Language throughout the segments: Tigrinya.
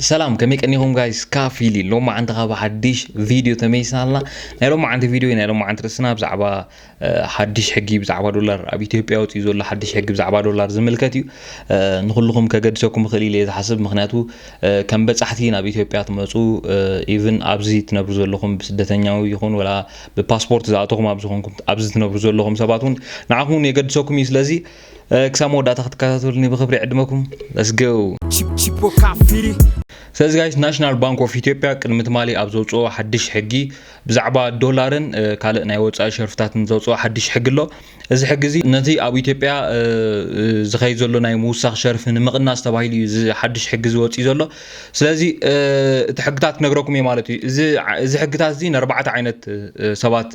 ሰላም ከመይ ቀኒኹም ጋይስ ካፊሊ ሎሚ ዓንቲ ካብ ሓድሽ ቪድዮ ተመይስና ኣለና ናይ ሎሚ ዓንቲ ቪድዮ ናይ ሎሚ ዓንቲ ርስና ብዛዕባ ሓድሽ ሕጊ ብዛዕባ ዶላር ኣብ ኢትዮጵያ ወፅኡ ዘሎ ሓድሽ ሕጊ ብዛዕባ ዶላር ዝምልከት እዩ ንኩልኹም ከገድሰኩም ይኽእል ኢለ ዝሓስብ ምክንያቱ ከም በፃሕቲ ናብ ኢትዮጵያ ትመፁ ኢቭን ኣብዚ ትነብሩ ዘለኹም ብስደተኛዊ ይኹን ወላ ብፓስፖርት ዝኣተኹም ኣብዚ ትነብሩ ዘለኹም ሰባት እውን ንዓኹም እውን የገድሰኩም እዩ ስለዚ ክሳብ መወዳእታ ክትከታተሉኒ ብክብሪ ዕድመኩም ለስገው ስለዚ ጋይስ ናሽናል ባንክ ኦፍ ኢትዮጵያ ቅድሚ ትማሊ ኣብ ዘውፅኦ ሓድሽ ሕጊ ብዛዕባ ዶላርን ካልእ ናይ ወፃኢ ሸርፍታትን ዘውፅኦ ሓድሽ ሕጊ ኣሎ እዚ ሕጊ እዚ ነቲ ኣብ ኢትዮጵያ ዝኸይድ ዘሎ ናይ ምውሳኽ ሸርፊ ንምቕናስ ተባሂሉ እዩ እዚ ሓድሽ ሕጊ ዝወፅእ ዘሎ ስለዚ እቲ ሕግታት ክነግረኩም እዩ ማለት እዩ እዚ ሕግታት እዚ ንኣርባዕተ ዓይነት ሰባት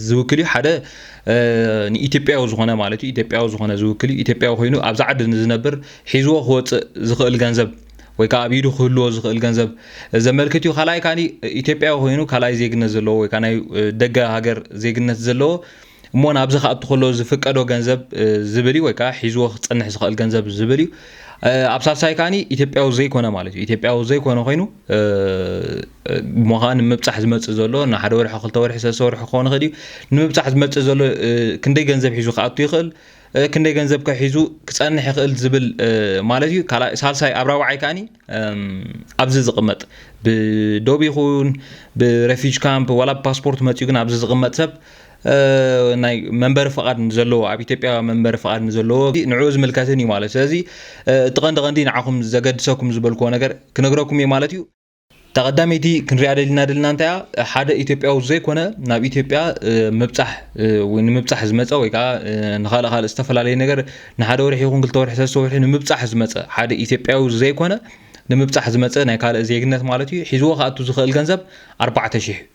ዝውክል እዩ ሓደ ንኢትዮጵያዊ ዝኾነ ማለት እዩ ኢትዮጵያዊ ዝኾነ ዝውክል እዩ ኢትዮጵያዊ ኮይኑ ኣብዛ ዓዲ ንዝነብር ሒዝዎ ክወፅእ ዝኽእል ገንዘብ ወይ ከዓ ኣብ ኢዱ ክህልዎ ዝኽእል ገንዘብ ዘመልክት እዩ ካልኣይ ካኒ ኢትዮጵያዊ ኮይኑ ካልኣይ ዜግነት ዘለዎ ወይ ከዓ ናይ ደገ ሃገር ዜግነት ዘለዎ እሞ ናብዚ ክኣቱ ከሎ ዝፍቀዶ ገንዘብ ዝብል እዩ ወይ ከዓ ሒዝዎ ክፀንሕ ዝኽእል ገንዘብ ዝብል እዩ ኣብ ሳልሳይ ካኒ ኢትዮጵያዊ ዘይኮነ ማለት እዩ ኢትዮጵያዊ ዘይኮነ ኮይኑ እሞ ኸኣ ንምብጻሕ ዝመጽእ ዘሎ ንሓደ ወርሒ ክልተ ወርሒ ሰለስተ ወርሒ ክኸውን ይኽእል እዩ ንምብጻሕ ዝመጽእ ዘሎ ክንደይ ገንዘብ ሒዙ ክኣቱ ይኽእል ክንደይ ገንዘብ ከ ሒዙ ክጸንሕ ይኽእል ዝብል ማለት እዩ ካልኣይ ሳልሳይ ኣብ ራብዓይ ከኣኒ ኣብዚ ዝቕመጥ ብዶብ ይኹን ብረፊጅ ካምፕ ዋላ ብፓስፖርት መጺኡ ግን ኣብዚ ዝቕመጥ ሰብ ናይ መንበሪ ፍቓድ ንዘለዎ ኣብ ኢትዮጵያ መንበሪ ፍቓድ ንዘለዎ ንዕኡ ዝምልከትን እዩ ማለት ስለዚ እቲ ቀንዲ ቀንዲ ንዓኹም ዘገድሰኩም ዝበልክዎ ነገር ክነግረኩም እየ ማለት እዩ እታ ቀዳመይቲ ክንሪኣ ደሊና ደልና እንታይ እያ ሓደ ኢትዮጵያዊ ዘይኮነ ናብ ኢትዮጵያ ምብፃሕ ንምብፃሕ ዝመፀ ወይ ከዓ ንካልእ ካልእ ዝተፈላለዩ ነገር ንሓደ ወርሒ ይኹን ክልተ ወርሒ ሰለስተ ወርሒ ንምብፃሕ ዝመፀ ሓደ ኢትዮጵያዊ ዘይኮነ ንምብፃሕ ዝመፀ ናይ ካልእ ዜግነት ማለት እዩ ሒዝዎ ክኣቱ ዝኽእል ገንዘብ ኣርባዕተ ሽሕ እዩ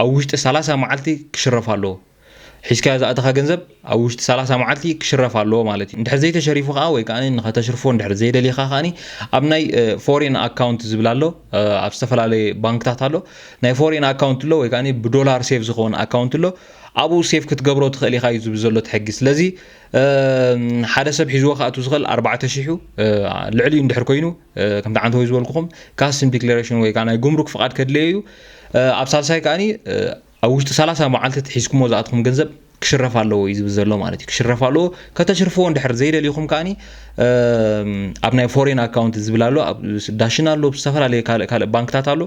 ኣብ ውሽጢ ሰላሳ መዓልቲ ክሽረፍ ኣለዎ። ሒዝካዮ ዝኣተኻ ገንዘብ ኣብ ውሽጢ ሰላሳ መዓልቲ ክሽረፍ ኣለዎ ማለት እዩ። እንድሕር ዘይተሸሪፉ ከኣ ወይ ከኣ ንኸተሽርፎ እንድሕር ዘይደሊኻ ከኣ ኣብ ናይ ፎሬን ኣካውንት ዝብል ኣሎ ኣብ ዝተፈላለየ ባንክታት ኣሎ ናይ ፎሬን ኣካውንት ኣሎ ወይ ከኣ ብዶላር ሴቭ ዝኸውን ኣካውንት ኣሎ ኣብኡ ሴቭ ክትገብሮ ትኽእል ኢኻ እዩ ዝብል ዘሎ እቲ ሕጊ። ስለዚ ሓደ ሰብ ሒዝዎ ክኣቱ ዝኽእል ኣርባዕተ ሽሕ እዩ ልዕሊኡ እንድሕር ኮይኑ ከምቲ ዓንተ ወይ ዝበልኩኹም ካስም ዲክሌሬሽን ወይ ከዓ ናይ ጉምሩክ ፍቓድ ከድለየ እዩ ኣብ ሳልሳይ ከዓኒ ኣብ ውሽጢ ሰላሳ መዓልቲ ትሒዝኩሞ ዝኣትኹም ገንዘብ ክሽረፍ ኣለዎ እዩ ዝብል ዘሎ ማለት እዩ ክሽረፍ ኣለዎ ከተሽርፍዎ እንድሕር ዘይደሊኹም ከዓኒ ኣብ ናይ ፎሬን ኣካውንት ዝብል ኣሎ ኣብ ዳሽን ኣሎ ዝተፈላለዩ ካልእ ካልእ ባንክታት ኣሎ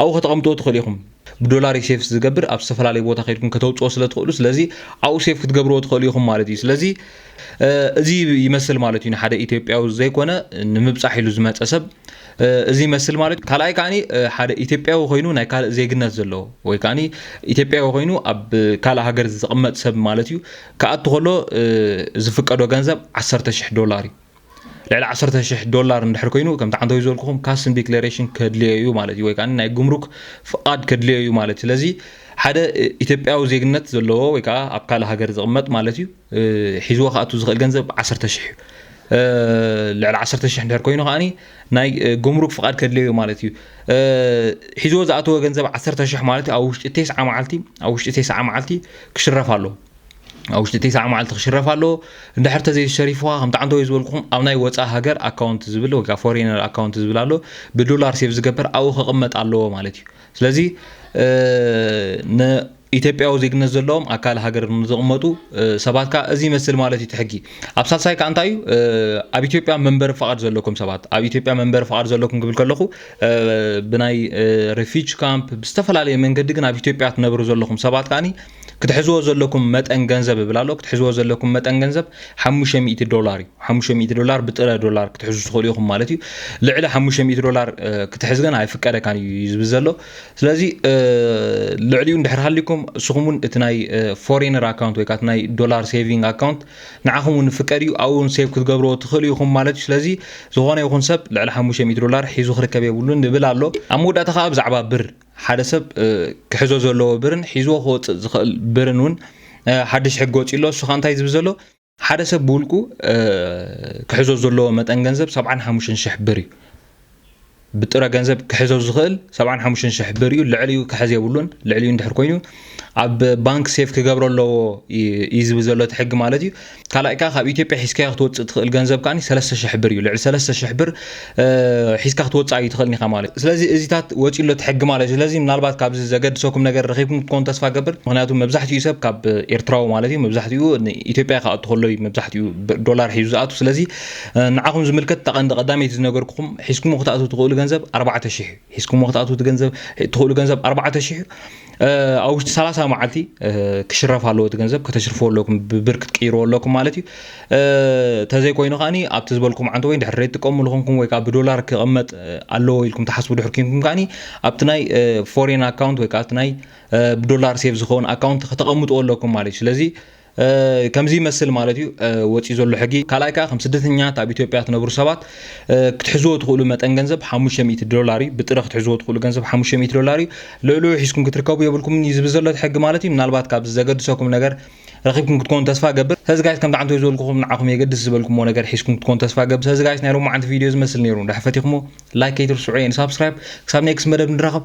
ኣብኡ ከተቐምጥዎ ትኽእሉ ኢኹም ብዶላር እዩ ሴፍ ዝገብር ኣብ ዝተፈላለየ ቦታ ከድኩም ከተውፅኦ ስለ ትኽእሉ ስለዚ ኣብኡ ሴፍ ክትገብርዎ ትኽእሉ ኢኹም ማለት እዩ ስለዚ እዚ ይመስል ማለት እዩ ንሓደ ኢትዮጵያዊ ዘይኮነ ንምብፃሕ ኢሉ ዝመፀ ሰብ እዚ ይመስል ማለት እዩ ካልኣይ ከዓኒ ሓደ ኢትዮጵያዊ ኮይኑ ናይ ካልእ ዜግነት ዘለዎ ወይ ከዓኒ ኢትዮጵያዊ ኮይኑ ኣብ ካልእ ሃገር ዝቕመጥ ሰብ ማለት እዩ ክኣቱ ከሎ ዝፍቀዶ ገንዘብ ዓሰርተ ሽሕ ዶላር እዩ ልዕሊ ዓሰርተ ሽሕ ዶላር እንድሕር ኮይኑ ከምቲ ዓንተዊ ዝበልኩኹም ካስን ዲክሌሬሽን ከድልዮ እዩ ማለት እዩ ወይ ከዓ ናይ ጉምሩክ ፍቃድ ከድልዮ እዩ ማለት ስለዚ ሓደ ኢትዮጵያዊ ዜግነት ዘለዎ ወይ ከዓ ኣብ ካልእ ሃገር ዝቕመጥ ማለት እዩ ሒዝዎ ክኣቱ ዝኽእል ገንዘብ ዓሰርተ ሽሕ እዩ ልዕሊ ዓሰርተ ሽሕ እንድሕር ኮይኑ ከዓኒ ናይ ጉምሩክ ፍቓድ ከድልዮ እዩ ማለት እዩ ሒዝዎ ዝኣተወ ገንዘብ ዓሰርተ ሽሕ ማለት እዩ ኣብ ውሽጢ ቴስዓ መዓልቲ ኣብ ውሽጢ ቴስዓ መዓልቲ ክሽረፍ ኣለዎ ኣብ ውሽጢ ቴስዓ መዓልቲ ክሽረፍ ኣለዎ እንድሕር ተዘይሸሪፉካ ከምቲ ዓንተወይ ዝበልኩኹም ኣብ ናይ ወፃእ ሃገር ኣካውንት ዝብል ወይ ከዓ ፎሬነር ኣካውንት ዝብል ኣሎ ብዶላር ሴቭ ዝገበር ኣብኡ ከቕመጥ ኣለዎ ማለት እዩ ስለዚ ኢትዮጵያዊ ዜግነት ዘለዎም ኣካል ሃገር ንዝቕመጡ ሰባት ከዓ እዚ ይመስል ማለት እዩ ትሕጊ ኣብ ሳልሳይ ከዓ እንታይ እዩ ኣብ ኢትዮጵያ መንበሪ ፍቓድ ዘለኩም ሰባት ኣብ ኢትዮጵያ መንበሪ ፍቓድ ዘለኩም ክብል ከለኹ ብናይ ሬፊጅ ካምፕ ብዝተፈላለየ መንገዲ ግን ኣብ ኢትዮጵያ ትነብሩ ዘለኹም ሰባት ከዓኒ ክትሕዝዎ ዘለኩም መጠን ገንዘብ እብል ኣሎ ክትሕዝዎ ዘለኩም መጠን ገንዘብ ሓሙሽተ ሚእቲ ዶላር እዩ ሓሙሽተ ሚእቲ ዶላር ብጥረ ዶላር ክትሕዙ ትኽእሉ ኢኹም ማለት እዩ ልዕሊ ሓሙሽተ ሚእቲ ዶላር ክትሕዝ ግን ኣይፍቀደካን እዩ እዩ ዝብል ዘሎ ስለዚ ልዕሊኡ እንድሕር ሃሊኩም እስኹም እውን እቲ ናይ ፎሬነር ኣካውንት ወይ ከዓ እቲ ናይ ዶላር ሴቪንግ ኣካውንት ንዓኹም እውን ፍቀድ እዩ ኣብኡ እውን ሴቭ ክትገብርዎ ትኽእሉ ኢኹም ማለት እዩ ስለዚ ዝኾነ ይኹን ሰብ ልዕሊ ሓሙሽተ ሚእቲ ዶላር ሒዙ ክርከብ የብሉን ንብል ኣሎ ኣብ መወዳእታ ከዓ ብዛዕባ ብር ሓደ ሰብ ክሕዞ ዘለዎ ብርን ሒዝዎ ክወፅእ ዝኽእል ብርን እውን ሓድሽ ሕጊ ወፂኡ ኣሎ። እሱ ከዓ እንታይ ዝብል ዘሎ ሓደ ሰብ ብውልቁ ክሕዞ ዘለዎ መጠን ገንዘብ ሰብዓን ሓሙሽተን ሽሕ ብር እዩ። ብጥረ ገንዘብ ክሕዞ ዝኽእል ሰብዓን ሓሙሽተን ሽሕ ብር እዩ። ልዕሊኡ ክሕዝ የብሉን። ልዕሊኡ እንድሕር ኮይኑ ኣብ ባንክ ሴፍ ክገብሮ ኣለዎ እዩ ዝብል ዘሎ እቲ ሕጊ ማለት እዩ ካልኣይ ከዓ ካብ ኢትዮጵያ ሒዝካዮ ክትወፅእ ትኽእል ገንዘብ ከዓ ሰለስተ ሽሕ ብር እዩ ልዕሊ ሰለስተ ሽሕ ብር ሒዝካ ክትወፅእ እዩ ትኽእል ኒኻ ማለት እዩ ስለዚ እዚታት ወፂኡ ኣሎ እቲ ሕጊ ማለት እዩ ስለዚ ምናልባት ካብዚ ዘገድሰኩም ነገር ረኺብኩም ክትኮኑ ተስፋ ገብር ምክንያቱ መብዛሕትኡ ሰብ ካብ ኤርትራዊ ማለት እዩ መብዛሕትኡ ንኢትዮጵያ ክኣቱ ከሎ እዩ መብዛሕትኡ ዶላር ሒዙ ዝኣቱ ስለዚ ንዓኹም ዝምልከት ተቐንዲ ቀዳመይቲ ዝነገርኩኹም ሒዝኩም ክትኣቱ ትኽእሉ ገንዘብ ኣርባዕተ ሽሕ እዩ ሒዝኩም ክትኣቱ ገንዘብ ትኽእሉ ገንዘብ ኣርባዕተ ሽሕ እዩ ኣብ ውሽጢ ሰላሳ መዓልቲ ክሽረፍ ኣለዎ እቲ ገንዘብ ከተሽርፎ ኣለኩም ብብር ክትቅይርዎ ኣለኩም ማለት እዩ ተዘይኮይኑ ከዓኒ ኣብቲ ዝበልኩም ዓንተ ወይ ድሕሪ ትጥቀሙ ዝኾንኩም ወይ ከዓ ብዶላር ክቕመጥ ኣለዎ ኢልኩም ትሓስቡ ድሕር ኮንኩም ከዓኒ ኣብቲ ናይ ፎሬን ኣካውንት ወይ ከዓ ኣብቲ ናይ ብዶላር ሴቭ ዝኸውን ኣካውንት ከተቐምጥዎ ኣለኩም ማለት እዩ ስለዚ ከምዚ ይመስል ማለት እዩ ወፂኡ ዘሎ ሕጊ ካልኣይ ከዓ ከም ስደተኛት ኣብ ኢትዮጵያ ትነብሩ ሰባት ክትሕዝዎ ትኽእሉ መጠን ገንዘብ 500 ዶላር እዩ ብጥረ ክትሕዝዎ ትኽእሉ ገንዘብ 500 ዶላር እዩ ልዕልኡ ሒዝኩም ክትርከቡ የብልኩምን እዩ ዝብል ዘሎ እቲ ሕጊ ማለት እዩ ምናልባት ካብዚ ዘገድሰኩም ነገር ረኺብኩም ክትኮኑ ተስፋ ገብር ስለዚ ጋይስ ከምቲ ዓንተ ዝበልኩኹም ንዓኹም የገድስ ዝበልኩሞ ነገር ሒዝኩም ክትኮኑ ተስፋ ገብር ስለዚ ጋይስ ናይ ሎማዓንቲ ቪድዮ ዝመስል ነይሩ እንዳሕፈቲኹሞ ላይክ ከይትርስዑ የን ሳብስክራይብ ክሳብ ኔክስት መደብ ንራኸብ